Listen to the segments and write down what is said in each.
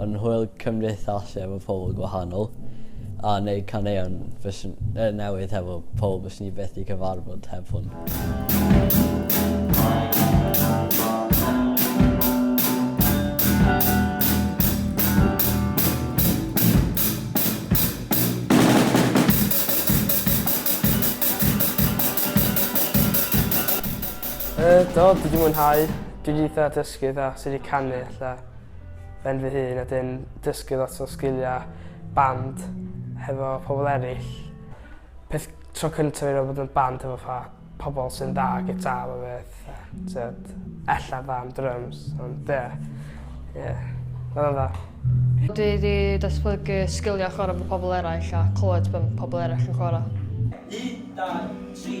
yn hwyl cymdeithasol efo pobl gwahanol, a neud caneuon fyswn, uh, newydd hefo pobl bys ni beth i cyfarfod heb hwn. Uh, do, dwi wedi mwynhau. Dwi wedi eitha dysgu dda sut i canu ella. ben fy hun a 'dyn dysgu lot o sgilia band hefo pobl eraill. Peth tro cyntaf i roi bod yn band hefo fatha pobl sy'n dda gitar a beth. Tyd, ella dda am drums, ond ie. Ie. Oedd o'n dda. Dwi wedi datblygu sgiliau chwarae efo pobl eraill a clywed be mae pobl eraill yn chwarae. Un, dau, tri.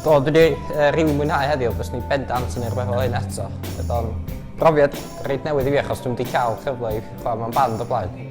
Do, dwi wedi uh, rili mwynhau heddiw, bys ni bendant yn erbyn hyn eto. Bydd o'n brofiad reit newydd i fi achos dwi'n wedi cael cyfle i chwarae mewn band o blaen.